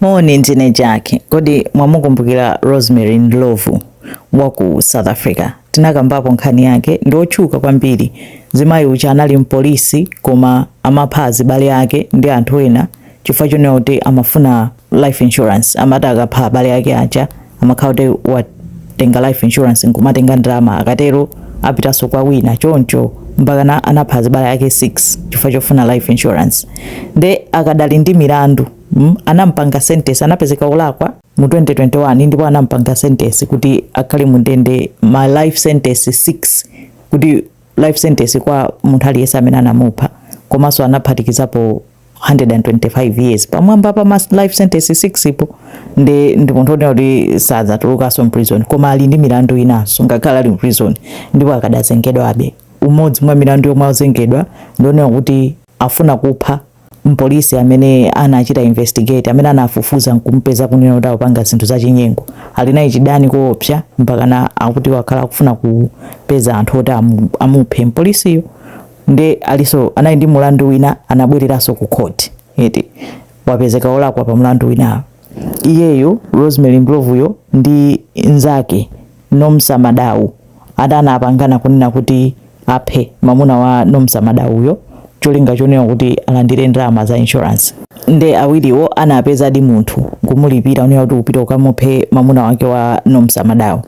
Moni, ndine Jack. Kodi mwamukumbukira Rosemary Ndlovu wa ku South Africa? Tinakambapo nkhani yake, ndi wotchuka kwambiri. Mzimayi uja anali mpolisi koma amapha azibale ake ndi anthu ena chifukwa chonena kuti amafuna life insurance. Amati akapha azibale ake aja amakhala kuti watenga life insurance nkumatenga ndalama, akatero apitanso kwa wina choncho mpakana anapha azibale ake 6 chifukwa chofuna life insurance. Nde akadali ndi milandu mm, anampanga sentence anapezeka olakwa mu 2021 ndipo anampanga sentence kuti akhale mu ndende ma life sentence 6 kuti life sentence kwa munthu aliyense amene anamupha komanso anaphatikizapo 125 years pamwamba pa ma life sentence 6 yo ndi ndi munthu onena kuti sadzatulukanso mprison koma ali ndi milandu inanso ngakhale ali mprison ndipo akadzazengedwabe umodzi mwa milandu yomwe azengedwa ndionena kuti afuna kupha mpolisi amene anamuchita investigate amene anafufuza nkumpeza kunena kuti akupanga zinthu zachinyengo ali naye chidani koopsa mpakana akuti wakhala akufuna kupeza anthu oti amu- amuphe mpolisiyo nde aliso anali ndi mulandu wina anabwereranso ku court eti wapezeka olakwa pa mulandu winawo Iyeyu Rosemary Ndlovuyo ndi nzake Nomsa Madau ati anapangana kunena kuti aphe mamuna wa Nomsa Madauyo cholinga chonena kuti alandire ndalama za insurance. Nde awiriwo anapezadi munthu nkumulipira kunena kuti upite ukamuphe mamuna wake wa Nomsa Madau.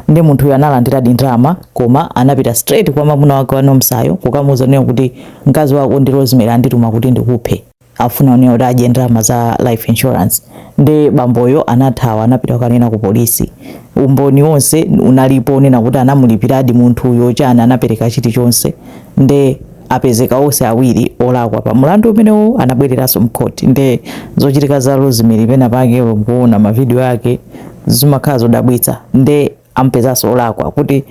Nde munthuyo analandiradi ndalama koma anapita straight kwa mamuna wake wa Nomsayo kukamuuza kunena kuti mkazi wako ndi Rosemary andituma kuti ndikuphe. afuna kunena kuti adye ndalama za life insurance nde bamboyo anathawa anapita kukanena ku polisi umboni wonse unalipo onena kuti anamulipiradi munthuyo chani anapereka chilichonse nde apezeka onse awiri olakwa pa mulandu umenewo anabwereranso mkhoti nde zochitika za rosemary pena pake ukamaona mavidiyo ake zimakhala zodabwitsa nde ampezanso olakwa kuti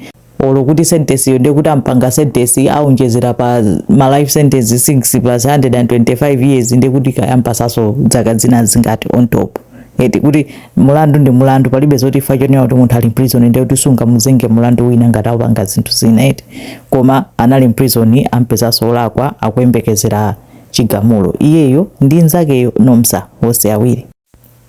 olo kuti sentence yo ndekuti ampanga sentence aonjezera pa ma life sentence 6 plus 125 years ndekuti kaya ampasaso zaka zina zingati on top eti kuti mulandu ndi mulandu palibe zoti chifukwa chonena kuti munthu ali mprison ndi kuti sungamuzenge mulandu wina ngati akupanga zinthu zina eti koma anali mprison ampezanso olakwa akuyembekezera chigamulo iyeyo ndi nzakeyo nomsa onse awiri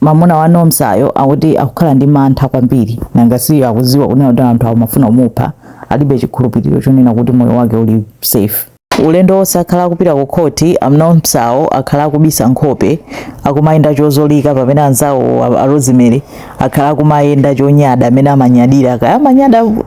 Mamuna wa Nomsa yo akuti akukhala ndi mantha kwambiri nanga si akuziwa kunena kuti anthu amafuna kumupha alibe chikhulupiriro chonena kuti moyo wake uli safe. Ulendo onse akhala akupita ku court a Nomsa wo akhala akubisa nkhope akumayenda chozolika pamene anzawowo a Rosemary akhala akumayenda chonyada mene amanyadira kaya amanyada